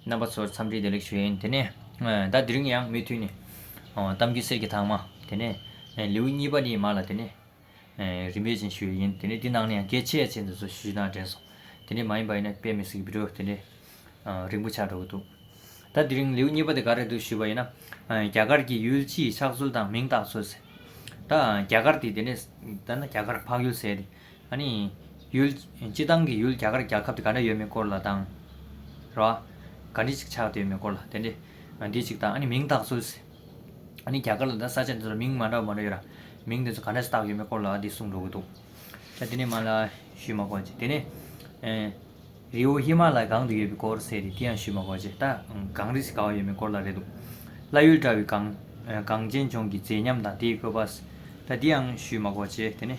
རྣམ་པ་ཚོར་འཚམས་འདྲི་བདེ་ལེགས་ཞུ་ཡིན། དེ་ནས་ཟླ་འདི་རིང་ཡང་མུས་མཐུན་ནས། གཏམ་རྒྱུད་གསེར་གྱི་ཐང་མ། དེ་ནས་ལེའུ་གཉིས་པ་ནི་མ་ལ་དེ་ནས། རིམ་པས་ཅན་ཞུ་བའི་ཡིན། དེ་ནས་འདི་ནང་ནས་ཡང་གེགས་ཆེ་ཡ་ཆེ་འདི་ཚོ་ཞུ་ཞུ་ནའང་དྲན་སོང། དེ་འདྲའི་མ་ཡིན་པ་ཡིན་ན་དཔེ་མི་སྲིད་ཀི་འགྲོ། དེ་འདྲའི་རིང་པོ་ཆགས་འགྲོ་གི་འདུག། ཟླ་འདི་རིང་ལེའུ་གཉིས་པ་དེ་ག་རེ་འདུག་ཞུས་པ་ཡིན་ན། རྒྱ་གར་གྱི་ཡུལ་སྤྱིའི་ཆགས་ཚུལ་དང་མིང་བཏགས་ཚུལ། ཟེར། ད་རྒྱ་གར་དེ་དེ་ནས་ད་ན་རྒྱ་གར་འཕགས་ཡུལ་ཟེར། ཨ་ནི། ཡུལ། སྤྱི་བཏང་གི་ཡུལ་རྒྱ་གར་རྒྱལ་ཁབ་དེ་ག་འདྲ་ཡོད་མེད་སྐོར་ལ་དང། ར་བ། ག་འདྲི་ཞིག་ཆགས་བསྡད་ཡོད་མེད་སྐོར་ལ་དེ་འདྲི། འདི་ཞིག་དང་ཨ་ནི་མིང་བཏགས་སུ། ཨ་ནི་རྒྱ་གར་ལ་ད་ས་ཆ་འདི་ཚོ་ལ་མིང་མ་འདྲ་བ་མང་པོ་ཡོད་ར། མིང་དེ་ཚོ་ག་འདྲ་ཞིག་བཏགས་ཡོད་མེད་སྐོར་ལ་འདི་གསུངས་འགྲོ་གི་འདུག། ད་དེ་ནས་མ་ལ། ཞུས་མ་གོ། དེ་ནས། རི་བོ་ཧི་མ་ལ་ཡ་གང་དུ་ཡོད་པའི་སྐོར་ཟེར་རེད་དེ་ཡང་ཞུས་མ་གོ། ད། གངས་རི་ཞིག་ག་བ་ཡོད་མེད་སྐོར་ལ་རེད་འདུག། བླ་ཡུལ་འདྲ་བའི་གངས། གངས་ཅན་ལྗོངས་ཀྱི་མཛེས་ཉམས་དང་དེའི་བཀོད་པ། ད་འདི་ཡང་ཞུས་མ་གོ། དེ་ནས།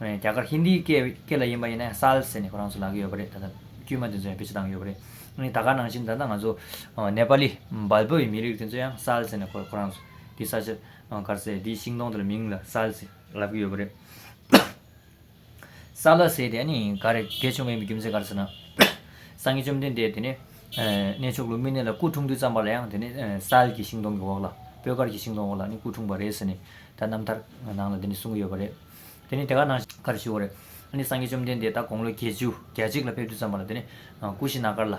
རྒྱ་གར་ཧིན་དིའི་སྐད་ལ་ཡིན་པ་ཡིན་ན་སཱལ་ཟེར་ནས་ཁོ་རང་ཚོ་ལག་གི་ཡོད་པ་རེད་ད་ལྟ་དཀྱུས་མ་དེ་ཚོ་ཡང་བེད་སྤྱོད་བཏང་གི་ཡོད་པ་རེད་ད་ག་ནང་བཞིན་ད་ལྟ་ང་ཚོ་ནེ་པ་ལི་འབལ་པོ་ཡི་མི་རིགས་དེ་ཚོ་ཡང་སཱལ་ཟེར་ནས་ཁོ་རང་ཚོ་དེའི་ས་ཆ་དཀར་ཟས་དེའི་ཤིང་སྡོང་དེ་ལ་མིང་ལ་སཱལ་ཟེར་ལབ་ཀྱི་ཡོད་པ་རེད། སཱལ་ཟེར་དེ་ནི་ག་རེ་དགེ་ཆུང་མ་ཡིན་པའི་རྒྱུ་མཚན་ག་རེ་ཟེར་ན། སངས་རྒྱས་བཅོམ་ལྡན་འདས་དེ་ནི་གནས་མཆོག་ལུམ་བི་ནི་ལ་སྐུ་འཁྲུངས་དུས་བརྩམས་པ་ལ་ཡང་དེ་ནི་སཱལ་གྱི་ཤིང་སྡོང་གི་འོག་ལ་སྤོས་དཀར་གྱི་ཤིང་སྡོང་འོག་ལ་ནི་སྐུ་འཁྲུངས་པ་རེད་ཟེར་ནས་ད་རྣམ་ཐར་ནང་ལ་དེ་ནི་གསུངས་ཀྱི་ཡོད་པ་རེད། དེ་ནི་དེ་ག་ན་གར་ཞུ་བ་རེད། ཨ་ནི་སངས་རྒྱས་བཅོམ་ལྡན་འདས་ད་དགོངས་ལོ་བརྒྱད་ཅུ་གྱ་གཅིག་ལ་ཕེབས་དུས་བརྩམས་པ་ལ་དེ་ནི་ཀུ་ཤི་ན་གར་ལ།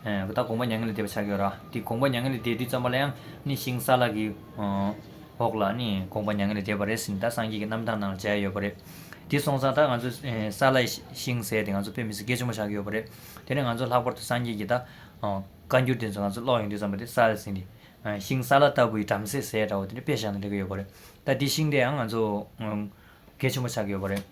ད་དགོངས་པ་མྱ་ངན་ལས་འདས་པ་ཆགས་ཡོད་ར་དེ་དགོངས་པ་མྱ་ངན་ལས་འདས་དུས་བརྩམས་པ་ལ་ཡང་ནི་ཤིང་སཱ་ལ་གི་འོག་ལ་ནི་དགོངས་པ་མྱ་ངན་ལས་འདས་པ་རེ་ཟིན་ད་སངས་རྒྱས་ཀྱི་རྣམ་ཐར་ནང་ལ་མཇལ་ཡོད་པ་རེད། དེ་སོང་ཙང་ད་ང་ཚོ་སཱ་ལའི་ཤིང་ཟས་དེ་ང་ཚོ་བོད་མི་སེར་སྐད་ཆུང་མ་ཆགས་ཀྱི་ཡོད་པ་རེད། དེ་ནས་ང་ཚོ་ལྷག་པར་དུ་སངས་རྒྱས་ཀྱི་ད་བཀའ་འགྱུར་དེ་ཚོ་ང་ཚོ་ཀློག་ཡོང་དུས་བརྩམས་པ་དེ་སཱ་ལ་ཟིན་ཏེ། ཤིང་སཱ་ལ་ལྟ་བུའི་བྲམ་ཟེ་ཟས་འདྲ་བོ་དེ་ནི་དཔེ་བཞག་ནས་འགྲེལ་གྱི་ཡོད་པ་རེད། ད་དེ་ཤིང་དེ་ཡང་ང་ཚོ་གལ་ཆེན་པོ་ཆགས་ཀྱི་ཡོད་པ་རེད།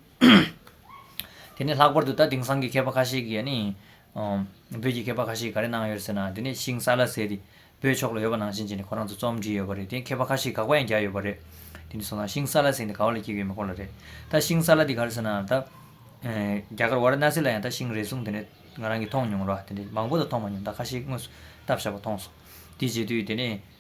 དེ་ནས་ལྷག་པར་དུ་ད་དེང་སང་གི་མཁས་པ་ཁ་ཤས་ཀྱིས་ནི། བོད་ཀྱི་མཁས་པ་ཁ་ཤས་ཀྱིས་ག་རེ་གནང་ཡོད་ཟེར་ན་དེ་ནས་ཤིང་སཱ་ལ་ཟེར་ཏེ། བོད་ཕྱོགས་ལ་ཡོད་པ་ནང་བཞིན་གྱི་ནི་ཁོ་རང་ཚོ་རྩོམ་བྲིས་ཡོད་པ་རེད་དེ་མཁས་པ་ཁ་ཤས་དགག་པ་ཡང་རྒྱག་ཡོད་པ་རེད། དེ་ནས་སོང་ཙང་ཤིང་སཱ་ལ་ཟེར་འདི་ག་བ་ལ་སྐྱེས་ཡོད་མེད་སྐོར་ལ་རེད། ད་ཤིང་སཱ་ལ་འདི་ག་རེ་ཟེར་ན་ད། རྒྱ་གར་བ་ར་ན་སི་ལ་ཡང་ད་ཤིང་རེ་ཟུང་དེ་ནས་ང་རང་གིས་མཐོང་མྱོང་རོགས། དེ་ནས་མང་པོ་དང་མཐོང་མ་མྱོང་ད་ཁ་ཤས་དངོས་སུ་བལྟ་བཞག་པ་མཐོང་སོང། དེ་བྱེད་དུས་དེ་ནས།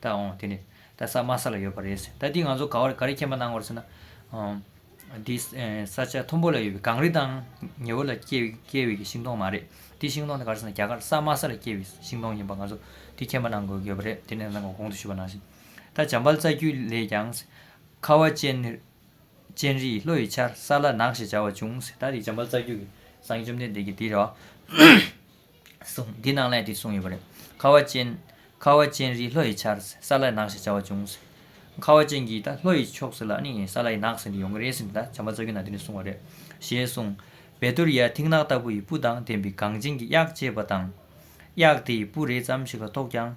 ད་འོང་དེ་ནི། ད་ས་དམའ་ས་ལ་ཡོད་པ་རེད་ཟེར། ད་འདི་ང་ཚོ་ག་བར་ག་རེ་མཁྱེན་པ་གནང་བར་ཟེར་ན། འདི་ས་ཆ་མཐོན་པོ་ལ་ཡོད་པའི་གངས་རི་དང་ཉི་འོད་ལ་སྐྱེལ་བའི་གི་ཤིང་སྡོང་མ་རེད། འདི་ཤིང་སྡོང་དེ་ག་རེ་ཟེར་ན་རྒྱ་གར་ས་དམའ་ས་ལ་སྐྱེལ་བའི་ཤིང་སྡོང་ཡིན་པ་ང་ཚོ་འདི་མཁྱེན་པ་གནང་དགོས་ཀྱི་ཡོད་པ་རེད་དེ་ནས་ནང་གོང་དུ་ཞུས་པ་ནང་བཞིན། ད་འཇམ་དཔལ་རྩ་རྒྱུད་ལས་ཀྱང་ཟེར། ཁ་བ་ཅན་རི་ཡི་ལྷོ་ཡི་ཆར་ས་ལ་ནགས་ཞེས་བྱ་བ་བྱུང་ཟེར། ད་འདི་འཇམ་དཔལ་རྩ་རྒྱུད་ཀྱི་གསང་བཅོམ་ལྡན་འདས་ཀྱི་འདི་རེད། གསུངས། འདི་ནང་ལས་དེ་གསུངས་ཡོད་པ་རེད། ཁ་བ་ཅན། ཁ་བ་ཅན་རིའི་ལྷོ་ཡི་ཆར་ས་ལ་ཡི་ནགས་ཞེས་བྱ་བ་བྱུང། ཁ་བ་ཅན་གྱིས་ད་ལྷོ་ཡི་ཕྱོགས་སུ་ལ་ནི་ས་ལ་ཡི་ནགས་ཟེར་འདི་ཡོང་གི་རེད་ཟེར་འདི་ད་བྱམས་པ་ཚ་རྒྱུད་ན་འདི་ནས་གསུངས་བ་རེད། ཞེས་གསུངས། བེ་དུར་ཡཱའི་མཐིང་ནག་ལྟ་བུ་ཡི་སྤུ་དང་ལྡན་པའི་གངས་ཅན་གྱི་གཡག་ཅེས་པ་དང། གཡག་དེ་ཡི་སྤུ་རེ་ཙམ་ཞིག་ལ་ཐོགས་ཀྱང།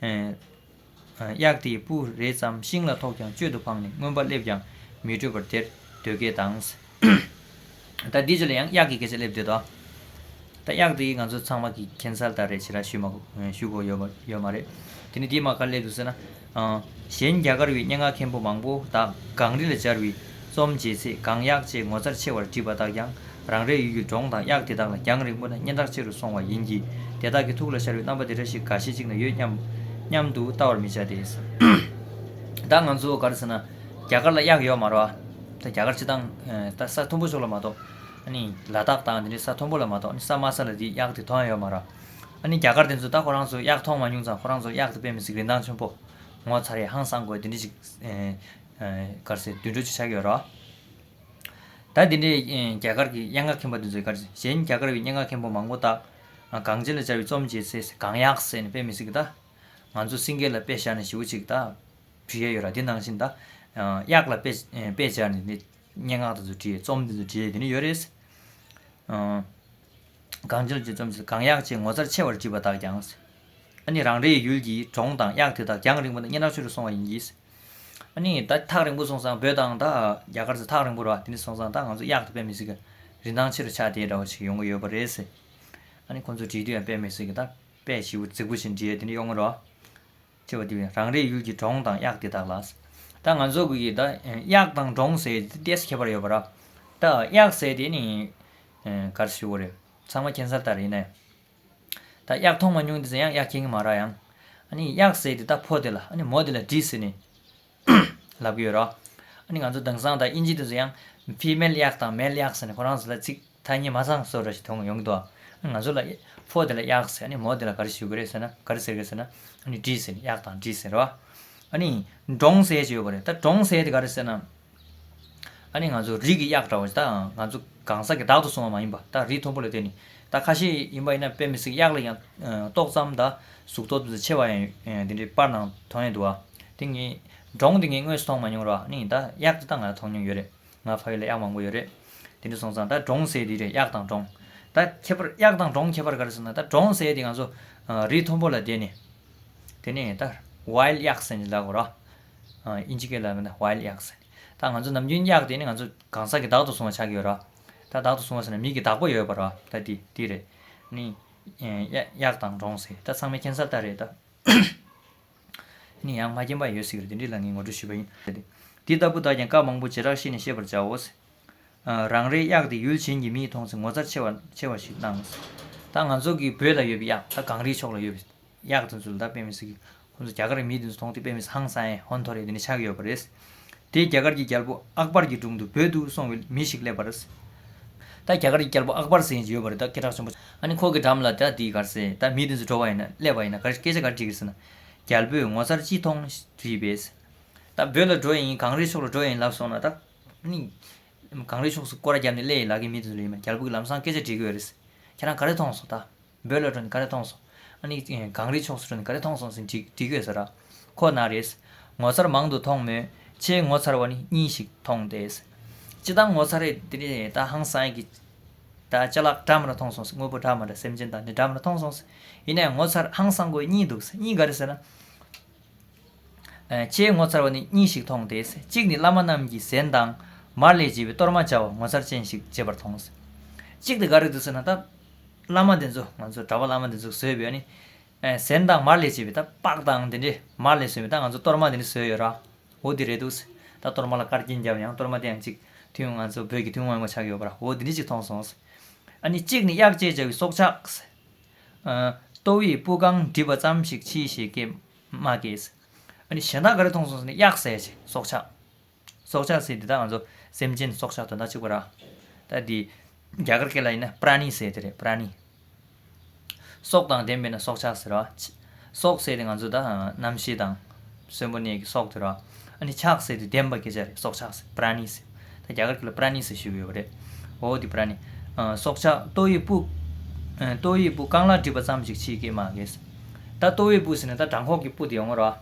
གཡག་དེའི་སྤུ་རེ་ཙམ་ཤིང་ལ་ཐོགས་ཀྱང་གཅོད་དུ་འཕངས་ནས་རྔོན་པ་སླེབས་ཀྱང་མི་འཕྲོད་པར་དེར་སྡོད་སྐད་བཏང། ད་འདི་ཚོ་ལ་ཡང་གཡག་གི་སྐད་ཆ་སླེབས་འདོད་དོ། ད་གཡག་དེས་ང་ཚོ་ཚང་མ་གི་ཁྱད་མཚར་ལྟར་རེ་བྱེད་ར་ཞུས་དགོས་ཡོད་མ་རེད། དེ་ནི་འདིའི་མ་ག་ལེར་དུ་ཟེར་ན། གཞན་རྒྱ་གར་བའི་སྙན་ངག་མཁན་པོ་མང་པོ་དག་གངས་རི་ལ་སྦྱར་བའི་རྩོམ་མཇལ་ཚེ་གངས་གཡག་ཅེས་ངོ་མཚར་ཆེ་བར་བྲིས་པ་དག་ཀྱང་རང་རེའི་ཡུལ་གྱི་འབྲོང་དང་གཡག་དེ་དག་ལ་རྒྱང་རིང་པོ་ན་སྙན་གྲགས་ཆེ་རུ་སོང་བ་ཡིན་གྱི། དེ་དག་གི་ཐུགས་ལ་ཤར་བའི་རྣམ་པ་དེ་འདྲ་ཞིག་ག་ཤེད་ཅིག་ན་ཡོད་སྙམ། སྙམ་དུ་བལྟ་བར་མི་བྱ་སྟེ། ད་ང་ཚོ་ག་རེ་ཟེར་ན། རྒྱ་གར་ལ་གཡག་ཡོད་མ་རོ། ད་རྒྱ་གར་སྤྱི་དང། ད་ས་མཐོན་པོ་ཕྱོགས་ལ་མ་གཏོགས། ཨ་ནི། ལ་དྭགས་དང་དེ་འདྲའི་ས་མཐོན་པོ་ལ་མ་གཏོགས་ཨ་ནི་ས་དམའ་ས་ལ་དེའི་གཡག་དེ་མཐོང་ཡོད་མ་རོ། ཨ་ནི་རྒྱ་གར་དེ་ཚོས་ད་ཁོ་རང་ཚོས་གཡག་མཐོང་མ་མྱོང་ཙང་ཁོ་རང་ཚོར་གཡག་དེ་དཔེ་མི་སྲིད་རིན་ཐང་ཆོན་པོ། ངོ་ཚ་རེད་ཧང་སང་དགོས་དེ་འདྲི་ཞིག། ག་རེ་ཟེར་དུད་འགྲོ་ཅིག་ཆགས་ཀྱི་ཡོད་རོ། ད་དེ་འདྲའི་རྒྱ་གར་གྱི་སྙན་ངག་མཁན་པ་དེ་ཚོའི་སྐར་ཆེན་གཞན་རྒྱ་གར་བའི་སྙན་ངག་མཁན་པོ་མང་པོ་དག་གངས་ཅན་ལ་སྦྱར་བའི་རྩོམ་བྱེད་ཚེ་གང་ཡག་ཟེར་ནས་སྤེལ་མི་སྲིད་ཀི་ད། ང་ཚོ་སིང་གེ་ལ་དཔེ་བཞག་ནས་ཞིབ་བོ་ཅིག་ད་བྲིས་ཡས་ཡོད་ར་དེ་ནང་བཞིན་ད། གཡག་ལ་དཔེ་སྦྱར་ནས་དེ་སྙན་ངག་དེ་ཚོ་བྲིས་ཡས་རྩོམ་དེ་ཚོ་བྲིས་ཡས་དེ་ནས་ཡོད་རེད། གངས་ཅན་ལ་སྦྱར་བའི་རྩོམ་བྱེད་ཚེ་གང་ཡག་ཅེས་ངོ་མཚར་ཆེ་བར་བྲིས་པ་དག་ཀྱང། ཨ་ནི་རང་རེའི་ཡུལ་གྱི་གྲོང་དང་གཡག་དེ་དག་རྒྱང་རིང་པོ་ནས་སྙན་གྲགས་ཆུ་རུ་སོང་བ་ཡིན་གྱིས། ནས། ད་ཐག་རིང་པོ་སོང་ཙང་བོད་དང་ད་རྒྱ་གར་ཚོ་ཐག་རིང་པོ་ར་དེ་ནས་སོང་ཙང་ད་ང་ཚོ་གཡག་ཏུ་དཔེ་མི་སྲིད་གི། རིན་ཐང་ཆེ་རུ་ཆག་དེ་འདྲ་བ་ཞིག་ཡོང་གི་ཡོད་པ་རེད་ཟེར། ཨ་ནི་ཁོང་ཚོ་བྲིས་དུས་ཡང་དཔེ་མི་སྲིད་གི་ད་དཔེ་བྱིས་པོ་རྫིག་པོ་ཞིག་འབྲི་ཡས་དེ་ནས་གཡོག་ངོ་རོགས། ཅེས་པ་དེ་བས་རང་རེའི་ཡུལ་གྱི་འབྲོང་དང་གཡག་དེ་དག་ལ། ད་ང་ཚོ་གིས་ད་གཡག་དང་འབྲོང་ཟེར་ཡས་དེ་ལྟས་ཁྱད་པར་ཡོད་པ་ར། ད་གཡག་ཟེར་དེ་ནི། གར་ཞུ་བོ་རེད། ཚང་མ་ཁྱད་མཚར་ལྟར་ཡིན་ནའི། ད་གཡག་མཐོང་མ་མྱོང་འདི་ཟེར་ཡང་གཡག་སྐྱེ་ངེ་མ་རག་ཡང། ཨཱ་ནི་གཡག་ཟེར་དེ་ད་ཕོ་དེ་ལ་ཨཱ་ནི་མོ་དེ་ལ་དྲིས་ཟེར་ནས། ལབ་ཀྱི་ཡོད་རོ། ཨཱ་ནི་ང་ཚོ་དེང་སང་ད་དབྱིན་ཇི་དུ་ཟེར་ཡང། Female གཡག་དང Male གཡག་ཟེར་ནས་ཁོ་རང་ཚོ་ལ་ཚིག་ཐ་སྙད་མ་ཚང་བཟོ་ར་ཞིག་མཐོང་ཡོང་གི་འདུག་ཨ། ཨཱ་ནི་ང་ཚོ་ལ། ཕོ་དེ་ལ་གཡག་ཟེར་ཨཱ་ནི་མོ་དེ་ལ་ག་རེ་ཞུ་གི་རེད་ཟེར་ན་ག་རེ་ཟེར་གི་ཟེར་ན། ཨཱ་ནི་དྲིས་ཟེར་ནས་གཡག་དང་དྲིས་ཟེར་རོ། ཨཱ་ནི། འབྲོང་ཟས་ཅེས་ཡོད་པ་རེད་ད་འབྲོང་ཟས་དེ་ག་རེ་ཟེར་ན། ཨ་ནི་ང་ཚོ་རིགས་ཀྱི་གཡག་འདྲ་བོ་ཞིག་ད་ང་ཚོ་གང་ཟག་གི་བདག་ཏུ་སོང་བ་མ་ཡིན་པ་ད་རིགས་མཐོན་པོ་ལ་བརྟེན་ནས་ད་ཁ་ཤས་ཡིན་པ་ཡིན་ན་དཔེ་མི་སྲིད་གཡག་ལ་ཡང་ཏོག་ཙམ་ད་གཟུགས་ཐོག་ཏུ་ཆེ་བ་ཡང་ཡོད་དེ་འདྲའི་པར་ནང་དོན་ཡོད་འདུག་ཨ་དེ་ངས་འབྲོང་དེ་ངས་དངོས་སུ་མཐོང་མ་མྱོང་རོགས་ཨ་ནི་ད་གཡག་དེ་ད་ང་མཐོང་མྱོང་ཡོད་རེད་ང་ཕ་ཡུལ་ལ་གཡག་མང་པོ་ཡོད་རེད་དེ་འདྲ་སོང་ཙང་ད་འབྲོང་ཟས་དེ་རེད་གཡག་དང་འབྲོང་ད་ཁྱད་པར་གཡག་དང་འབྲོང་ཁྱད་པར་ག་རེ་ཟེར་ན་ད་འབྲོང་ཟས་དེ་ང་ཚོ་རིགས་མཐོན་པོ་ལ་བརྟེན་ནས་དེ་ནས་ད་ཝའི་གཡག་ཟས་ལགས་རོགས། ཨིན་ཇི་སྐད་ལ་མིན་ན While Yaks ཟེར། ད་ང་ཚོ་ནམ་རྒྱུན་གཡག་དེ་ནི་ང་ཚོ་གང་ཟག་གི་བདག་ཏུ་བཟུང་བ་ཆགས་ཀྱི་ཡོད་རོ། ད་བདག་ཏུ་བཟུང་བ་ཟེར་ན་མིག་གི་བདག་པོ་ཡོད་པར་རོ། ད་དེ་དེ་རེད། ནི། གཡག་དང་འབྲོང་ཟེར་ད་ཚང་མའི་མཁྱེན་གསར་ལྟར་རེད་ད། ནི་ཡང་མ་མཁྱེན་པ་ཡོད་སྲིད་ཀྱི་རེད་དེ་འདི་ལ་ངས་ངོ་སྤྲོད་ཞུས་པ་ཡིན། དེ་ལྟ་བུ་དག་ཀྱང་སྐབས་མང་པོ་བྱེ་བྲག་བཤད་ནས་ཤེས་པར་བྱའོ། རང་རེའི་གཡག་དེ་ཡུལ་གཞན་གྱི་མིས་མཐོང་ཚེ་ངོ་ཚ་ཆེ་བ་ཆེ་བ་ཞིག་སྣང། ད་ང་ཚོ་གི་བོད་ལ་ཡོད་པའི་གཡག་ད་གངས་རིའི་ཕྱོགས་ལ་ཡོད་པའི། གཡག་དེ་ཚོ་ལ་ད་དཔེ་མི་སྲིད། ཁོ་ཚོ་རྒྱ་གར་གྱི་མི་དེ་ཚོ་མཐོང་དུས་དཔེ་མི་སྲིད་ཧང་སང་ཨེ་ཧོན་ཐོ་རེ་དེ་ནས་ཆགས་ཡོད་པ་རེད། དེས་རྒྱ་གར་གྱི་རྒྱལ་པོ་ཨག་པར་གྱི་དྲུང་དུ་བོད་དུ་སོང་བའི་མི་ཞིག་སླེབས་པ་རེད། ད་རྒྱ་གར་གྱི་རྒྱལ་པོ་ཨག་པར་ཟེར་ཡིན་ཡོད་པ་རེད་ད་སྐད་གྲགས་ཆེན་པོ། ཨ་ནི་ཁོ་གི་འགྲམ་ལ་ད་འདི་གར་སེ་ད་མི་དེ་ཚོ་འགྲོ་བ་ཡིན་ན་སླེབས་པ་ཡིན་ན་ག་རེ་སྐད་ཆ་ག་རེ་འདྲི་གི་སེ་ན། རྒྱལ་པོས་ངོ་མཚར་ཅི་མཐོང་དྲིས་པས། ད་བོད་ལ་འགྲོ་ཡི་ཡིན་གངས་རིའི་ཕྱོགས་ལ་འགྲོ་ཡི་ཡིན་ལབ་སོང་ན་ད། ཨ་ནི། གངས་རིའི་ཕྱོགས་སུ་སྐོར་ར་བརྒྱབ་ནས་སླེ་ཡི་ལགས་ཀྱི་མི་དེ་ཚོ་ལ་ཡིན་ན་རྒྱལ་པོ་གི་ལམ་སང་སྐད་ཆ་འདྲི་གི་ཡོད་རེད། ཁྱེད་རང་ག་རེ་མཐོང་སོང་ད། འབོད་ལོ་དྲོན་ག་རེ་ཐོངས་སོང། ཨ་ནི། གངས་རིའི་ཕྱོགས་སུ་དྲོན་ག་རེ་ཐོངས་སོང་ཟིན་ཅིག་འདྲི་དགོས་ཟེར་ར། ཁོ་ན་རེས། ངོ་མཚར་མང་དུ་མཐོང་མོད། ཆེས་ངོ་མཚར་བ་ནི་གཉིས་ཤིག་མཐོང་སྟེ། སྤྱི་བཏང་ངོ་མཚར་རེད་དེ། ད་ཧང་སང་གི། ད་ལྕེ་ལག་འདྲ་མ་འདྲ་མཐོངས་སོང་ཟེར་དངོས་པོ་འདྲ་མ་འདྲ་སེམས་ཅན་དང་ནི་འདྲ་མ་འདྲ་མཐོངས་སོང་ཟེར། ཡིན་ནའི་ངོ་མཚར་ཧང་སང་གོ་གཉིས་འདུག་ཟེར་གཉིས་ག་རེ་ཟེར་ན། ཆེས་ངོ་མཚར་བ་ནི་གཉིས་ཤིག་མཐོང་སྟེ། གཅིག་ནི་བླ་མ་རྣམས་ཀྱིས་ཟན་དང། མར་ལས་བྱས་པའི་གཏོར་མ་བཅའ་བ་ངོ་མཚར་ཅན་ཞིག་བརྗེད་པར་མཐོང། གཅིག་དེ་ག་རེ་འདུག་ཟེར་ན་ད། བླ་མ་འདི་ཚོ་ང་ཚོ་གྲྭ་པ་བླ་མ་འདི་ཚོ་བཟོས་ཡོད་ནི། ཟན་དང་མར་ལས་བྱས་པའི་ད་པགས་དང་དེ་འདྲས་མར་ལས་བཟོས་མེད་ད་ང་ཚོ་གཏོར་མ་འདི་འདྲས་བཟོས་ཡོད་ར་འོ་དེ་རེད་འདུག་ད་གཏོར་མ་ལ་དཀར་སྐྱིན་བརྒྱབ་ཡང་གཏོར་མ་དེ་ཡང་གཅིག་ཐུན་ང་ཚོ་བོད་ཀྱི་ཐུན་དབང་མོ་ཆགས་ཡོད་པ་ར་འོ་དེ་འདྲས་གཅིག་མཐོང་སོང། ཨ་ནི་གཅིག་ནི་གཡག་ཅེས་བྱ་བའི་སྲོག་ཆགས། ལྟོ་བའི་སྤུ་རྐང་བསྒྲིབས་པ་ཙམ་ཞིག་མཆིས་ཞེས་སྐད་སྨྲ་སྐད། ཨ་ནི་གཞན་དག་ག་རེ་མཐོང་སོང་ཟེར་ནས་གཡག་ཟས་བྱེད་སྲོག་ཆགས། སྲོག་ཆགས་ཟས་དེ་དག་ང་ཚོ་སེམས་ཅན་སྲོག་ཆགས་དོན་དག་གཅིག་པུ་ར། ད་དེ་རྒྱ་གར་སྐད་ལ་ཡིན་ན Prani ཟས་དེ་རེད Prani། སྲོག་དང་ལྡན་པས་ན་སྲོག་ཆགས་ཟེར་ར། སྲོག་ཟས་དེ་ང་ཚོ་ད་རྣམ་ཤེས་དང། གསོན་པོ་གནས་ཀྱི་སྲོག་དེ་ར། ཨ་ནི་ཆགས་ཟས་དེ་ལྡན་པ་སྐད་ཆ་རེད་སྲོག་ཆགས་ཟས Prani ཟས། ད་རྒྱ་གར་སྐད་ལ Prani ཟས་ཞེས་པ་ཡོད་པ་རེད། འོ་དེ Prani། སྲོག་ཆགས་ལྟོ་ཡི་སྤུ། ལྟོ་ཡི་སྤུ་རྐང་ལག་བསྒྲིབས་པ་ཙམ་ཞིག་མཆིས་སྐད་མ་ཁེལ། ད་ལྟོ་ཡི་སྤུ་ཟེར་ན་ད་བྲང་ཁོག་གི་སྤུ་དེ་ཡོང་ངོ་ར།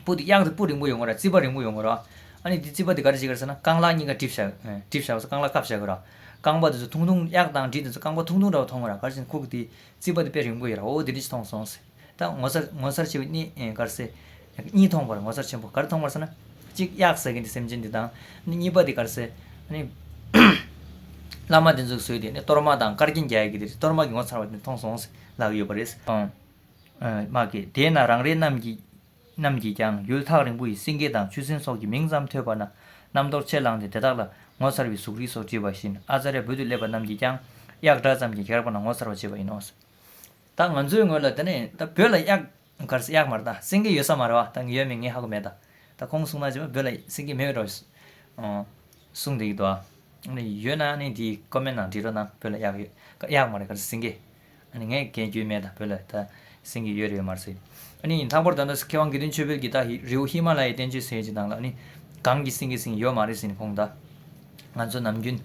སྤུ་དེ་གཡང་དེ་སྤུ་རིང་པོ་ཡོད་དགོས་ར་རྩིབ་པ་རིང་པོ་ཡོད་དགོས་ར། ཨ་ནི་དེ་རྩིབ་པ་དེ་ག་རེ་བྱེད་དགོས་ཟེར་ན་རྐང་ལག་གཉིས་ཀ་གྲིབ་བྱ་གྲིབ་བྱ་བ་སོགས་རྐང་ལག་ཁབ་བྱ་དགོས་ར། རྐང་པ་དེ་ཚོ་ཐུང་ཐུང་གཡག་དང་དྲི་དེ་ཚོ་རྐང་པ་ཐུང་ཐུང་འདྲ་བོ་མཐོང་གི་ར་ག་རེ་བྱས་ན་ཁུག་དེ་རྩིབ་པ་དེ་དཔེ་རིང་པོ་ཡོད་ར་འོ་དེ་འདྲ་ཅིག་མཐོང་སོང་ཟེར། ད་ངོ་མཚར་ངོ་མཚར་ཆེ་བའི་གནས་ག་རེ་ཟེར། གཉིས་མཐོང་བར་ངོ་མཚར་ཆེན་པོ་ག་རེ་མཐོང་བར་ཟེར་ན། གཅིག་གཡག་ཟ་གིན་དེ་སེམས་ཅན་དེ་དང། གཉིས་པ་དེ་ག་རེ་ཟེར། ཨ་ནི། བླ་མ་དེ་ཚོ་གསོས་དེ་ནི་གཏོར་མ་དང་དཀར་རྒྱན་རྒྱག་གི་དེ་གཏོར་མ་གི་ངོ་མཚར་བ་དེ་མཐོང་སོང་ཟེར་ལབ་ཡོད་པ་རེད། སྨྲ་སྐད། དེས་ན་རང་རེ་རྣམས་ཀྱིས་རྣམས་ཀྱིས་ཀྱང་ཡུལ་ཐག་རིང་པོ་ཡི་སེང་གེ་དང་ཆུ་སྲིན་སོགས་ཀྱི་མིང་ཙམ་ཐོས་པ་ན་རྣམ་རྟོག་ཆད་ལངས་ཏེ་དེ་དག་ལ་ངོ་མཚར་བའི་གཟུགས་རིས་སོགས་བྲིས་པ་བཞིན་ཨ་ཙཱ་རའི་བོད་དུ་སླེབས་པ་རྣམས་ཀྱིས་ཀྱང་གཡག་སྒྲ་ཙམ་གྱིས་གེགས་རག་པ་ན་ངོ་མཚར་བར་བྱེད་པ་ཡིན་ནོ། ད་ང་ཚོའི་ངོས་ལ་དེ་ནས་ད་བོད་ལ་གཡག་གར་གཡག་མ་རེད་ད་སེང་གེ་ཡོད་ས་མ་རེད་བ་ད་ངས་ཡོད་མེད་ངས་ཧ་གོ་མེད་ད་ད་ཁོང་གསུང་ན་ཅེས་པ་བོད་ལ་སེང་གེ་མེད་རེད་བ་གསུང་བསྡད་ཀྱི་འདུག་ཨ། ཡོད་ན་ནི་དེའི་ཀོ་མེན་ནང་འབྲི་རོགས་གནང་བོད་ལ་གཡག་ཡོད་གཡག་མ་རེད་གར་སེང་གེ། ངས་མཁས་རྒྱུའི་སྨན་དང་བོད་ལ་ད་སེང་གི་ཡོད་རེད་མ་ཟེར། ལྷག་པར་དུ་མཁས་དབང་དགེ་འདུན་ཆོས་འཕེལ་གྱིས་ད་རེའུ་ཧི་མ་ལ་ཡའི་བསྟན་བཅོས་ཟེར་གྱི་ནང་ལ་གངས་ཀྱི་སེང་གེ་སེང་ཡོད་མ་རེད་ཟེར་ནས་ཁོང་ད། ང་ཚོ་ནམ་རྒྱུན།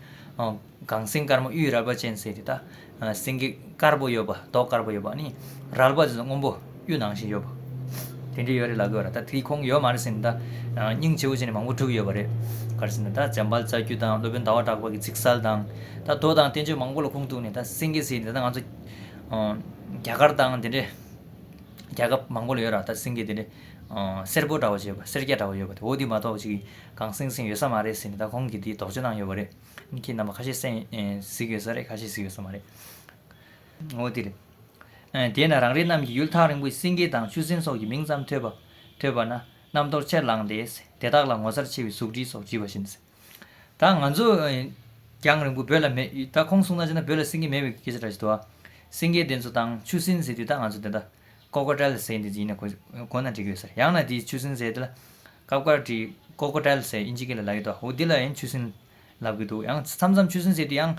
གངས་སེང་དཀར་མོ་གཡུའི་རལ་པ་ཅན་ཟེར་ཏེ་ད། སེང་གེ་དཀར་པོ་ཡོད་པ་མདོག་དཀར་པོ་ཡོད་པ། རལ་པ་དེ་ཚོ་སྔོན་པོ། གཡུ་ནང་བཞིན་ཡོད་པ། དེ་འདྲ་ཡོད་རེད་ལ་གོ་རེད་ད་དེ་ཁོང་ཡོད་མ་རེད་ཟེར་ནས་ད། སྙིང་རྗེ་བོ་བྱས་ནས་མང་པོ་བསྒྲུབས་ཡོད་པ་རེད། གར་ཟེར་ནས་ད་འཇམ་དཔལ་རྩ་རྒྱུད་དང་སློབ་དཔོན་ཟླ་བ་གྲགས་པ་གི་ཚིག་གསལ་དང། ད་མདོ་དང་བསྟན་བཅོས་མང་པོ་ལ་ཁུངས་གཏུགས་ནས་ད་སེང་གེ་ཟེར་ནས་ད་ང་ཚོ། རྒྱ་གར་དང་དེ་འདྲའི། རྒྱལ་ཁབ་མང་པོ་ལ་ཡོད་ར་ད་སེང་གེ་དེ་འདྲའི། སེར་པོ་འདྲ་བ་བྱེད་པ་སེར་སྐྱ་འདྲ་བ་ཡོད་པ་དེ་འོ་དེ་མ་གཏོགས་ཅིག་གང་སེང་སེང་ཡོད་ས་མ་རེད་ཟེར་ནས་ད་ཁོང་གིས་དེ་དོགས་གཅོད་གནང་ཡོད་པ་རེད། ཁྱེད་རྣམ་པ་ཁ་ཤས་སེང་གཟིགས་ཡོད་ས་རེད་ཁ་ཤས་གཟིགས་ཡོད་ས་མ་རེད། ངོ། དེ་ལས་དེས་ན་རང་རེ་རྣམས་ཀྱིས་ཡུལ་ཐག་རིང་པོའི་སེང་གེ་དང་ཆུ་སྲིན་སོགས་ཀྱི་མིང་ཙམ་ཐོས་པ་ཐོས་པ་ན་རྣམ་རྟོག་ཆེར་ལངས་ཏེ། དེ་དག་ལ་ངོ་མཚར་ཆེ་བའི་གཟུགས་བྲིས་སོགས་བྲིས་པ་བཞིན། ད་ང་ཚོས་རྒྱང་རིང་པོ་བོད་ལ་མེད་ད་ཁོང་གསུང་སྟངས་བྱས་ན་བོད་ལ་སེང་གེ་མེད་པའི་སྐད་ཆ་འདྲ་ཞིག་འདུག་ཨ། སེང་གེ་དེ་ཚོ་དང་ཆུ་སྲིན་ཟེར་དུས་ད་ང་ཚོ་དེ་དག Cocodile ཟེར་འདི་ཡིན་ན་གོ་ན་འགྲིག་གི་རེད་ཟེར་ཡང་ན་དེ་ཆུ་སྲིན་ཟེར་དེ་ལ་ཀབཀར་བྲིས Cocodile ཟེར་ཨིན་ཇི་སྐད་ལ་ལ་ཡོད་དོ་འོ་དེ་ལ་ཡིན་ཆུ་སྲིན། ལབ་གི་འདུག་ཡང་མཚམས་མཚམས་ཆུ་སྲིན་ཟེར་དུས་ཡང།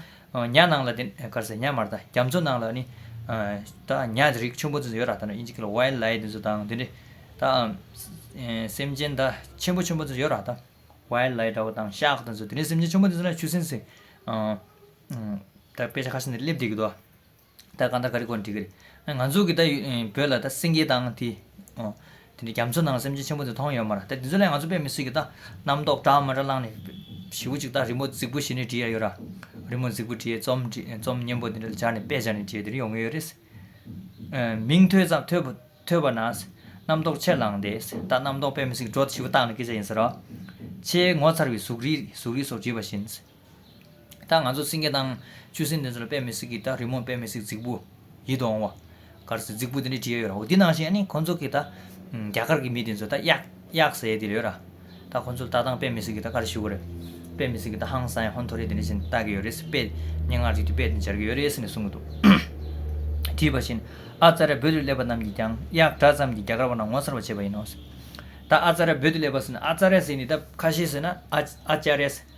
ཉྭ་ནང་ལ་དེ་གར་ཟེར་ཉྭ་མར་དང་རྒྱ་མཚོ་ནང་ལ་ནི། ད་ཉྭ་རིགས་ཆུན་པོ་ཚོ་ཡོད་ར་ད་ནི་ཨིན་ཇི་ཀི་ལ་ཝའི་ལའི་དེ་ཚོ་དང་དེ་འདྲའི། ད། སེམས་ཅན་ད་ཆེན་པོ་ཆུན་པོ་ཚོ་ཡོད་ར་ད། ཝའི་ལའི་འདྲ་བོ་དང་ཤག་དེ་ཚོ་དེ་ནི་སེམས་ཅན་ཆུན་པོ་དེ་ཚོ་ན་ཆུ་སྲིན་ཟེར། ད་དཔེ་ཆ་ཁ་ཤས་འདིར་སླེབས་བསྡད་ཀྱི་འདུག་ཨ། ད་གང་ལྟར་ག་རེ་གོ་འགྲིག་གི་རེད། ང་ཚོ་གི་ད་བོད་ལ་ད་སེངྒེ་དང་དེ། དེ་ནས་རྒྱ་མཚོ་ནང་སེམས་ཅན་ཆེན་པོ་དེ་མཐོང་ཡོད་མ་ར་ད་དེ་ཚོ་ལས་ང་ཚོ་དཔེ་མི་སྲིད་གི་ད་རྣམ་རྟོག་བྲག་མ་འདྲ་བླངས་ནས། བྱིའུ་གཅིག་ད་རི་མོ་རྫིག་པོ་ཞིག་ནས་བྲིས་ཡ་ཡོད་ར། རི་མོ་རྫིག་པོ་བྲིས་རྩོམ་རྩོམ་སྙན་པོ་དེ་འདྲ་སྦྱར་ནས་དཔེ་སྦྱར་ནས་བྲིས་དེ་རིང་ཡོང་གི་ཡོད་རེད། མིང་ཐོས་ཙམ་ཐོས་ཐོས་པ་ན། རྣམ་རྟོག་ཆེར་ལངས་ཏེ་ད་རྣམ་རྟོག་དཔེ་མི་སྲིད་འགྲོ་བྱིའུ་བཏགས་ནས་སྐད་ཆ་ཡིན་ཟེར་རོ། ཆེས་ངོ་མཚར་བའི་གཟུགས་རིས་གཟུགས་རིས་སོགས་བྲིས་པ་བཞིན། ད་ང་ཚོ་སེང་གེ་དང། ཆུ་སྲིན་དེ་ཚོ་ལ་དཔེ་མི་སྲིད་ཀི་ད་རི་མོར་དཔེ་མི་སྲིད་རྫིག་བུ། ཡིད་དུ་འོང་བ། གར་སེ་རྫིག་བུ་དེ་འདྲའི་བྲིས་ཡ་ཡོད་ར་འོ་དེ་ནང་བཞིན་ནི་ཁོ་ཚོ་གི་ད། རྒྱ་གར་གི་མི་དེ་ཚོ་ད་གཡག། གཡག་ཟེ་དེ་རེད་ཡོད་ར། ད་ཁོ་ཚོ་ལ་ལྟ་སྟངས་དཔེ་མི་སྲིད་ཀི་ད་གར་ཞུ་གི་རེད། དཔེ་མི་སྲིད་ཀི་ད་ཧང་སང་ཡ་ཧོན་ཐོ་རེ་དེ་འདྲ་བཞིན་བལྟ་གི་ཡོད་རེད་ཟེ་དཔེ། སྙན་ངག་ཅིག་གི་དཔེ་དེ་འབྱར་གི་ཡོད་རེད་ཟེ་ནས་གསུང་གི་འདུག། བྲིས་པ་བཞིན། ཨ་ཙཱ་ར་བོད་དུ་སླེབས་པ་རྣམས་ཀྱིས་ཀྱང་གཡག་འདྲ་ཙམ་གྱིས་རྒྱ་གར་བ་རྣམས་ངོ་མཚར་བ་བྱེད་པ་ཡིན་ནོ། ད་ཨ་ཙཱ་ར་བོད་དུ་སླེབས་པ་ཟེ་ན་ཨ་ཙཱ་ར་ཟེ་ནི་ད་ཁ་ཤེས་ཟེ་ན་ཨ། ཨ་ཅཱ་རེ་ཟེ།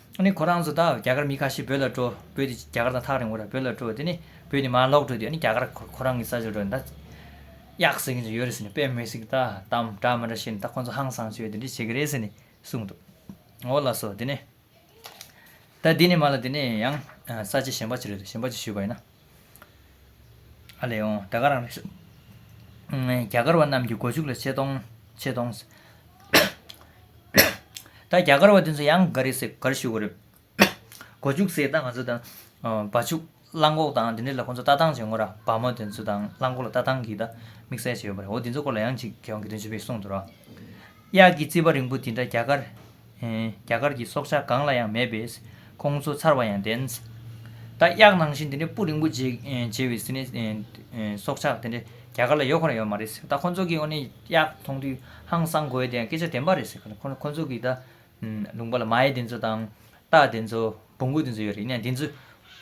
ནི་ཁོ་རང་ཚོ་དང་རྒྱ་གར་མི་ཁ་ཤས་བོད་ལ་འགྲོ། བོད་དེ་རྒྱ་གར་དང་ཐག་རིང་བོ་ར་བོད་ལ་འགྲོ་དེ་ནི་བོད་ནས་མར་ལོག་འགྲོ་དུས་ཨ་ནི་རྒྱ་གར་ཁོ་རང་གི་ས་ཆར་འགྲོ་ནས་ད། གཡག་ཟེར་མཁན་ཚོ་ཡོད་རེད་ཟེར་ནས་དཔེ་མི་སྲིད་ཀྱི་ད་དམ་དྲག་མི་འདྲ་བྱས་ནས་ད་ཁོ་ཚོ་ཧང་སང་བྱོས་དེ་འདྲས་བྱེད་ཀྱི་རེད་ཟེར་ནས་གསུངས་འདུག་འོ་ལགས་སོ་དེ་ནི། ད་དེ་ནས་མ་ལ་དེ་ནས་ཡང་ས་ཆ་གཞན་པ་ཅིག་རེད་འདུག་གཞན་པ་ཅིག་ཞུས་པ་ཡིན་ན། རྒྱ་གར་བ་རྣམས་ཀྱི་སྒོ་ཕྱུགས་ལ་ཆེ་མཐོང། ད་རྒྱ་གར་བ་དེ་ཚོ་ཡང་ག་རེ་ཟེར་གར་ཞུ་གི་རེད། སྒོ་ཕྱུགས་ཟེར་ད་ང་ཚོ་དང། བ་ཕྱུགས་གླང་གོག་དང་དེ་འདྲས་ལ་ཁོང་ཚོ་ལྟ་སྟངས་བྱེད་ངོ་ར་བ་མོ་དེ་ཚོ་དང་གླང་གོག་ལ་ལྟ་སྟངས་ཀྱིས་ད་དམིགས་བསལ་བྱས་ཡོད་པ་རེད་འོ་དེ་ཚོ་སྐོར་ལ་ཡང་ཅིག་གེ་ཝང་གི་དོན་ཆེན་པོས་གསུངས་འདུག་ར། གཡག་གི་རྩིད་པ་རིང་པོ་དེ་འདྲ་རྒྱ་གར། རྒྱ་གར་གྱི་སྲོག་ཆགས་གང་ལ་ཡང་མེད་པས་ཁོང་ཚོ་ཚར་བ་ཡང་བདེན། རྟ་གཡག་ནང་བཞིན་དེ་འདྲའི་སྤུ་རིང་པོ་བརྗེ་བའི་སྲི་ནས་སྲོག་ཆགས་དེ་འདྲ་རྒྱ་གར་ལ་ཡོད་ཁོ་ན་ཡོད་མ་རེད་ཟེར་ད་ཁོང་ཚོ་གིས་ཨོ་ནི་གཡག་མཐོང་དུས་ཧང་སང་གོ་ཡི་དེ་ཡང་སྐད་ཆ་བདེན་པ་རེད་ཟེར་གི་ཁོང་ཚོ་གིས་ད་ལུང་པ་ལ་མ་ཡི་དེ་ཚོ་དང་རྟ་དེ་ཚོ་སྦུ་གུ་དེ་ཚོ་ཡོད་རེད་ཡིན་ན་དེ་ཚོ་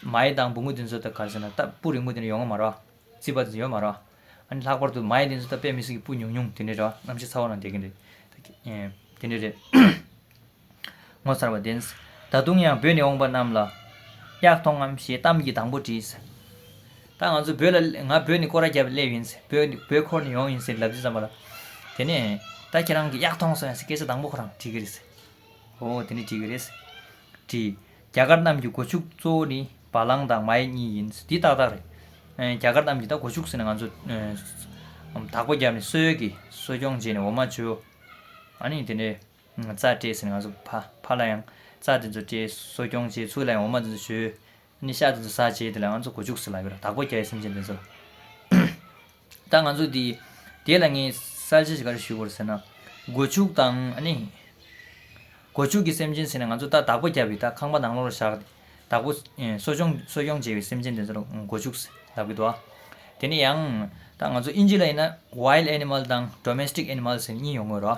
མ་ཡི་དང་སྦུ་གུ་དེ་ཚོ་དང་ག་ཟེར་ན་རྟ་སྤུ་རིང་པོ་དེ་འདྲ་ཡོད་མ་རེད་བ་རྩིད་པ་དེ་ཚོ་ཡོད་མ་རེད་བ། ཨ་ནི་ལྷག་པར་དུ་མ་ཡི་ལན་ཚོད་ད་དཔེ་མི་སྲིད་གི་སྤུ་ཉུང་ཉུང་དེ་འདྲའི་འདྲ་བ་གནམ་གཤིས་ཚ་བོ་ན་འདེད་ཀྱིན་རེད། དེ་འདྲའི་རེད། ངོ་མཚར་བ་བདེན། ད་དུང་ཡང་བོད་ནས་འོངས་པ་རྣམས་ལ། གཡག་མཐོང་ངམ་ཞེས་གཏམ་གྱི་དང་པོ་དྲིས། ད་ང་ཚོ་བོད་ལ་ང་བོད་ནས་སྐོར་ར་བརྒྱབ་སླེབས་ཡིན། བོད་ཁོར་ནས་ཡོང་ཡིན་ཟེར་ལབ་རྒྱུ་ཙམ་པ་ལ། དེ་ནས། ད་ཁྱེད་རང་གིས་གཡག་མཐོང་སོང་ཡང་ཟེར་སྐད་ཆ་དང་པོ་ཁོ་རང་དྲིས་ཀྱི་རེད། འོ་དེ་འདྲས་དྲིས་ཀྱི་རེད། དྲིས། རྒྱ་དཀར་རྣམས་ཀྱི་སྒོ་ཕྱུགས་གཙོ་བོ་ནི་བ་གླང་དང་མ་ཡེ་གཉིས་ཡིན་འདི་ཏག་ཏག་རེད། རྒྱ་དཀར་རྣམས་ཀྱིས་ད་སྒོ་ཕྱུགས་ཟེར་ན་ང་ཚོས་དག་པ་བརྒྱབ་ནས་སོལ་ཡོལ་གྱིས་གསོ་སྐྱོང་བྱས་ནས་འོ་མ་བྱོ། ཨ་ནི་དེ་ནས་རྩྭ་སྤྲད་ཟེར་ནས་ང་ཚོ་ཕ་ཕ་ལ་ཡང་རྩྭ་དེ་ཚོ་སྤྲད་གསོ་སྐྱོང་བྱས་ཚུར་ལ་ཡང་འོ་མ་དེ་ཚོ་བྱོས། ཨ་ནི་ཤ་དེ་ཚོ་ཟ་བྱས་དེ་ལ་ང་ཚོ་སྒོ་ཕྱུགས་ཟེར་ལགས་ཀྱི་ར་དག་པ་བརྒྱ་ཡི་སེམས་ཅན་དེ་ཚོ་ལ། ད་ང་ཚོ་དེ་དེ་ལ་ངས་གསལ་བྱེད་ཅིག་ག་རེ་ཞུས་དགོས་ཟེར་ན། སྒོ་ཕྱུགས་དང་ནི། སྒོ་ཕྱུགས་ཀྱི་སེམས་ཅན་ཟེར་ན་ང་ཚོ་ད་བདག་པོ་བརྒྱབ་པའི་ད་ཁང་པ་ནང་ལོགས་ལ་བཞག་སྟེ་བདག་པོ་གསོ་སྐྱོང་གསོ་སྐྱོང་བྱེད་པའི་སེམས་ཅན་དེ་ཚོར་སྒོ་ཕྱུགས་ལབ་གི་འདུག་ཨ། དེ་ནས་ཡང། ད་ང་ཚོ་དབྱིན་ཇི་ལ་ཡིན་ན Wild Animal དང Domestic Animal ཟེར་གཉིས་ཡོང་གི་རོ།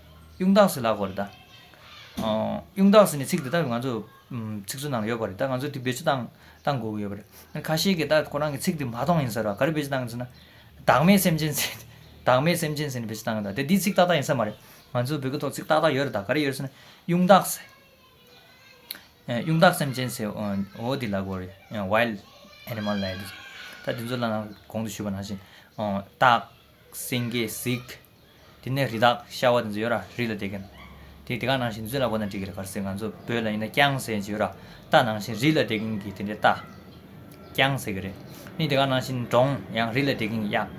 གཡུང་དྭགས་སུ་ལགས་པ་རེད་ད། གཡུང་དྭགས་སུ་ནས་ཚིག་འདི་དག་ང་ཚོ་ཚིག་མཛོད་ནང་ལ་ཡོད་པ་རེད་ད་ང་ཚོ་དེ་བེད་སྤྱོད་གཏང་གཏང་དགོས་ཀྱི་ཡོད་པ་རེད། ཁ་ཤས་ཀྱིས་ད་ཁོ་རང་གི་ཚིག་འདི་མ་མཐོང་ཡིན་ཟེར་བ་ག་རེ་བེད་སྤྱོད་གཏང་གི་ཟེར་ན། བདག་མེད་སེམས་ཅན་ཟེར། བདག་མེད་སེམས་ཅན་ཟེར་ནས་བེད་སྤྱོད་གཏང་གི་ད་དེ་འདི་ཚིག་ཏག་ཏག་ཡིན་ས་མ་རེད། ང་ཚོ་བོད་སྐད་ཐོག་ཚིག་ཏག་ཏག་ཡོད་རེད་ད་ག་རེ་ཡོད་ཟེར་ན། གཡུང་དྭགས་ཟེར། གཡུང་དྭགས་སེམས་ཅན་ཟེར་འོ་དེ་ལགས་པ་རེད Wild Animal ལགས། ད་དེ་ཚོ་ལ་ནང་གོང་དུ་ཞུས་པ་ནང་བཞིན། སྟག། སེང་གེས་གཟིགས། དེ་ནས་རི་དྭགས་ཤྭ་བ་དེ་ཚོ་ཡོད་ར་རི་ལ་དེད་གིན། དེ་དེ་ག་ནང་བཞིན་རྫུན་ལ་གོ་ན་འགྲིག་གི་རེད་ག་ཟེ་ང་ཚོ་བོད་ལ་ཡིན་ན་རྐྱང་ཟེ་ཇི་ཡོད་ར་རྟ་ནང་བཞིན་རི་ལ་དེད་གིན་གི་དེ་འདྲའི་རྟ། རྐྱང་ཟེ་གི་རེད། མི་དེ་ག་ནང་བཞིན་འབྲོང་ཡང་རི་ལ་དེད་གིན་གི་གཡག།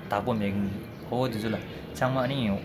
བདག་པོ་མེད་གིན་གི་ཧོ་དེ་ཚོ་ལ་ཚང་མ་ཨ་ནི་ཡིན་འོ།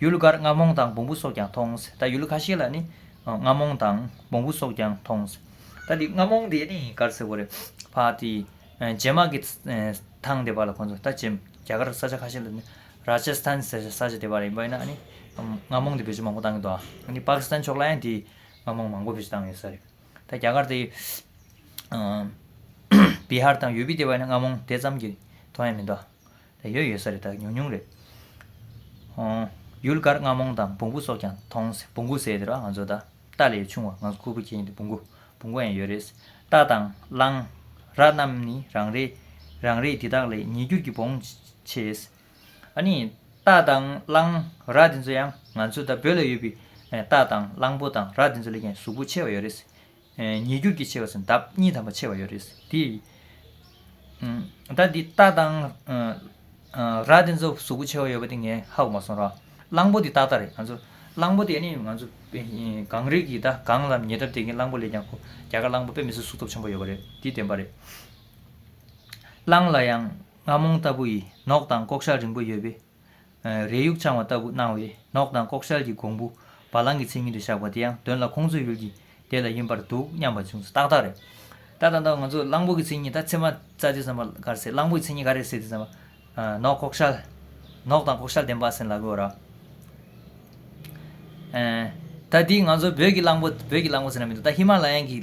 ཡུལ་འགར་རྔ་མོང་དང་བོང་བུ་སོགས་ཀྱང་མཐོང། ད་ཡུལ་ཁ་ཤས་ལ་ནི། རྔ་མོང་དང་བོང་བུ་སོགས་ཀྱང་མཐོང། ད་འདི་རྔ་མོང་དེ་ནི་གར་ཟེར་བ་རེད། ཕ་དེ། རྗེ་དམག་གི། ཐང་དེ་བ་ལ་ཁོང་ཚོ་ད་རྗེ། རྒྱ་གར་ས་ཆ་ཁ་ཤས་ལ་ནི། Rajasthan ཟེར་བའི་ས་ཆ་དེ་བ་རེད་འབའ་ཡིན་ན་ནི། རྔ་མོང་དེ་བེད་སྤྱོད་མང་པོ་བཏང་གི་འདུག་ཨ། འདི Pakistan ཕྱོགས་ལ་ཡང་དེ། རྔ་མོང་མང་པོ་བེད་སྤྱོད་བཏང་ཡོད་ས་རེད། ད་རྒྱ་གར་དེ། Bihar དང་ཡོ་པི་དེ་བ་ཡིན་ན་རྔ་མོང་དེ་ཙམ་གྱི། མཐོང་ཡ་མི་འདུག་ཨ། ལས་ཡོད་ཡོད་ས་རེད་དང་ཉུང་ཉུང་རེད། ཡུལ་དཀར་རྔ་མོང་དང་བོང་བུ་སོགས་ཀྱང་མཐོང། བོང་བུ་ཟེར་དེ་རོ་ང་ཚོ་ད་རྟ་ལས་ཆུང་བ་ང་ཚོ་ཁུར་པོ་ཁྱེར་ཡིན་དེ་བོང་བུ་བོང་བུ་ཡང་ཡོད་རེད། རྟ་དང་གླང། ར་རྣམས་ནི་རང་རེད། རང་རེད་དེ་དག་ལས་ཉིས་འགྱུར་གྱི་བོང་ཆེ། ཨ་ནི། རྟ་དང་གླང། ར་དེ་ཚོ་ཡང་ང་ཚོ་ད་བོད་ལ་ཡོད་པའི་རྟ་དང་གླང་པོ་དང་ར་དེ་ཚོ་ལས་ཀྱང་གཟུགས་པོ་ཆེ་བ་ཡོད་རེད། ཉེ་རྒྱུར་གྱི་ཕྱེ་བ་སུན་འདབ་གཉིས་དམ་པ་ཕྱེ་བ་ཡོད་རེད་དེ། ད་འདི་རྟ་དང། ར་དེ་ཚོ་གཟུགས་པོ་ཕྱེ་བ་ཡོད་པ་དེ་ངས་ཧ་གོ་མ་སོང་རོགས། གླང་པོ་དེ་ཏག་ཏག་རེད་ང་ཚོ། གླང་པོ་དེ་ནི་ང་ཚོ་གངས་རི་གི་ད་གངས་ལ་ཉེ་འདབས་དེ་གིན་གླང་པོ་ལས་ཀྱང་ཁོ་རྒྱ་གར་གླང་པོ་དཔེ་མི་སྲིད་གཟུགས་སྟོབས་ཆེན་པོ་ཡོད་པ་རེད་དེ་བདེན་པ་རེད། གླང་ལ་ཡང་རྔ་མོང་ལྟ་བུ་ཡི་ནོག་དང་ལྐོག་ཤ་རིང་པོ་ཡོད་པས། རས་ཡུག་འཆང་བ་ལྟ་བུ་སྣང་བས་ནོག་དང་ལྐོག་ཤལ་གྱི་གོང་བུ་བ་གླང་གི་མཚན་ཉིད་དུ་བཞག་པ་དེ་ཡང་དོན་ལ་ཁོང་ཚོའི་ཡུལ་གྱི་སྡེ་ལ་ཡིན་པར་འདུག་སྙམ་པ་བྱུང་སོ་ཏག་ཏག་རེད། ད་ད་ད་ང་ཚོ་གླང་པོ་གི་མཚན་ཉིད་ད་ཚེ་མ་རྩ་རྗེས་བསམ་པ་གར་སེ་གླང་པོ་ཡི་མཚན་ཉིད་ག་རེ་སེ་དེ་བསམ་པ། ནོག་ལྐོག་ཤལ། ནོག་དང་ལྐོག་ཤལ་ལྡན་པ་སེ་ལ་གོ་ར། ད་དེ་ང་ཚོ་བོད་ཀྱི་གླང་པོ་བོད་ཀྱི་གླང་པོ་ཟེར་ན་མི་འདུག་ད་ཧི་མ་ལ་ཡན་གྱི་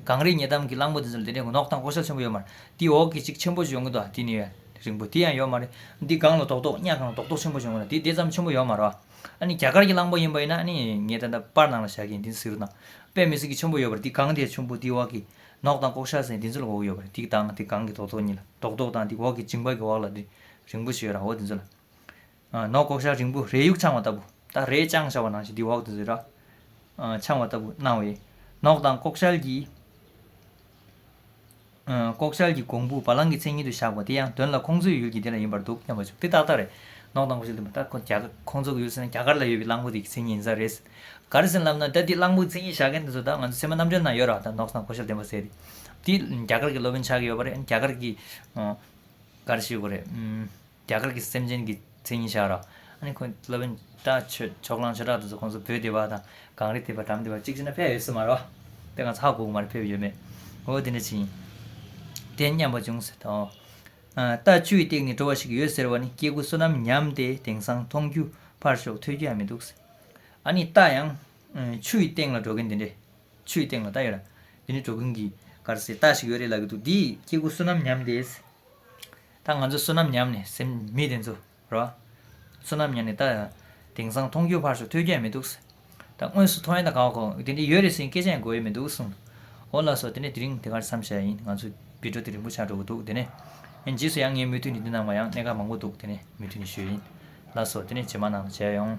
གངས་རིའི་ཉེ་འདམ་གྱི་གླང་པོ་དེ་ཚོ་ལ་དེ་འདྲའི་ནོག་དང་ལྐོག་ཤལ་ཆེན་པོ་ཡོད་མ་རེད་དེའི་འོག་གི་གཅིག་ཆེན་པོ་ཅིག་ཡོང་གི་འདུག་ཨ་དེ་ནི་ཡོད། རིང་པོ་དེ་ཡང་ཡོད་མ་རེད། འདི་སྒང་ལ་རྡོག་རྡོག་གཉའ་གང་རྡོག་རྡོག་ཆེན་པོ་བྱུང་བ་ན་དེ་དེ་ཙམ་ཆེན་པོ་ཡོད་མ་རེད། ཨ་ནི་རྒྱ་གར་གྱི་གླང་པོ་ཡིན་པ་ཡིན་ན་ཨ་ནི་ངས་ད་ལྟ་པར་ནང་ལ་བཞག་གིན་འདི་ཚོ་ཟིག་རོ་དང། དཔེ་མི་ཟིག་གི་ཆེན་པོ་ཡོད་པར་འདི་སྒང་དེ་ཆུང་པོ་འདི་འོག་གི། ནོག་དང་ཀོག་ཤ་ཟེར་འདི་ཚོ་ལ་འོག་ཡོད་པ་རེད་འདི་དང་དེ་སྒང་གི་རྡོག་རྡོག་གཉིས་ལ་རྡོག་རྡོག་དང་འདི་འོག་གི་མཇིང་པ་གི་འོག་ལ་འདི་རིང་པོ་ཞིག་ཡོད་ར་འོ་འདི་ཚོ་ལ། ནོག་ལྐོག་ཤར་རིང་པོ་རས་ཡུག་འཕྱང་བ་ལྟ་བུ། ད་རས་དཔྱང་བྱ་བ་ནང་བཞིན་དེའི་འོག་ཏུ་རས་འཕྱང་བ་ལྟ་བུ་སྣང་བས། ནོག་དང་ལྐོག་ཤལ་གྱི། ལྐོག་ཤལ་གྱི་གོང་བུ་བ་ལང་གི་མཚན་ཉིད་དུ་བཞག་པ་དེ་ཡང་དོན་ལ་ཁོང་ཚོའི་ཡུལ་གྱི་དེ་འདྲ་ཡིན་པར་འདུག་སྙམ་པ་བྱུང་དེ་ཏག་ཏག་རེད། ནོག་དང་ལྐོག་ཤལ་དེ་ཁོང་ཚོ་གི་ཡུལ་ཟེར་ན་རྒྱ་གར་ལ་ཡོད་པའི་གླང་པོ་དེ་གི་མཚན་ཉིད་ཡིན་ས་རེད། ག་རེ་ཟིན་ལབ་ན་ད་དེའི་གླང་པོའི་མཚན་ཉིད་བཞག་མཁན་དེ་ཚོ་ད་ང་ཚོའི་ཚད་མ་རྣམ་འགྲེལ་ན་ཡོད་ར་ད་ནོག་དང་ལྐོག་ཤལ་བདེན་པ་ཟེར། དེ་རྒྱ་གར་གྱི་སློབ་དཔོན་ཆགས་ཀྱི་ཡོད་པ་རེད་རྒྱ་གར་གྱི། ག་རེ་ཞིག་ཡོད་པ་རེད། རྒྱ་གར་གྱི་སེམས་ཅན་གྱི་མཚན་ཉིད་ཤར་རོ། ཨཱ་ནི་ཁོང་གི་སློབ་དཔོན་བཀྲ་ཆོས་ཕྱོགས་གླང་ཆོས་གྲགས་དེ་ཚོ་ཁོང་ཚོ་བོད་འདི་བ་དང་གངས་རི་འདི་བ་འགྲམ་འདི་བ་གཅིག་ཅེ་ན་ཕལ་ཡོད་སྲིད་མ་རོ། དེ་གང་ཚགས་གོག་མ་རེད་ཕེབས་ཡོད་མེད། འོ་དེ་འདྲ་ཅི་ཡིན། དེ་སྙམ་པ་བྱུང་ཟེར་ཏོ། རྟ་བཅུའི་སྟེང་ནས་འགྲོ་བ་ཞིག་ཡོད་ཟེར་བ་ནི་སྐྱེ་དགུ་བསོད་ནམས་ཉམས་ཏེ་དེང་སང་མཐོང་རྒྱུ་ཕར་ཞོག་ཐོས་རྒྱུ་ཡང་མི་འདུག་ཟེར། ཨཱ་ནི་རྟ་ཡང། ཆུའི་སྟེང་ལ་འགྲོ་གིན་འདི་འདྲའི། ཆུའི་སྟེང་ལ་རྟ་ཡོད་ར། འདི་འདྲའི་འགྲོ་གིན་གྱི་གར་སེ་རྟ་ཞིག་ཡོད་རེད་ལབ་ཀྱི་འདུག་འདིས་སྐྱེ་དགུ་བསོད་ནམས་ཉམས་ཏེ། ད་ང་ཚོས་བསོད་ནམས་ཉམས་ནས་སེམས་མི་དེ་ཚོ་རོ། བསོད་ནམས་ཉམས་ནས་ད། དེང་སང་མཐོང་རྒྱུ་ཕར་ཞོག་ཐོས་རྒྱུ་ཡང་མི་འདུག། ད་དངོས་སུ་མཐོང་ཡ་ད་ག་བ་གོ། དེ་འདྲ་ཡོད་རེད་ཟེར་གྱིན་སྐད་ཆ་ཡང་གོ་ཡི་མི་འདུག་གསུངས། འོ་ལགས་སོ་དེ་ནས་དེ་རིང་དེ་གར་མཚམས་བཞག་ཡིན་ང་ཚོ་བི་དྲོ་དེ་རིང་པོ་ཆགས་འགྲོ་གི་འདུག་དེ་ནས། རྗེས་སུ་ཡང་ངས་མུ་མཐུད་ནས་འདི་ནང་མ་ཡང་གནས་སྐབས་མང་པོ་འདུག་དེ་ནས་མུ་མཐུད་ནས་ཞུས། ལགས་སོ་དེ་ནས་བྱེ་མ་ནང་དུ་བྱས་ཡོང།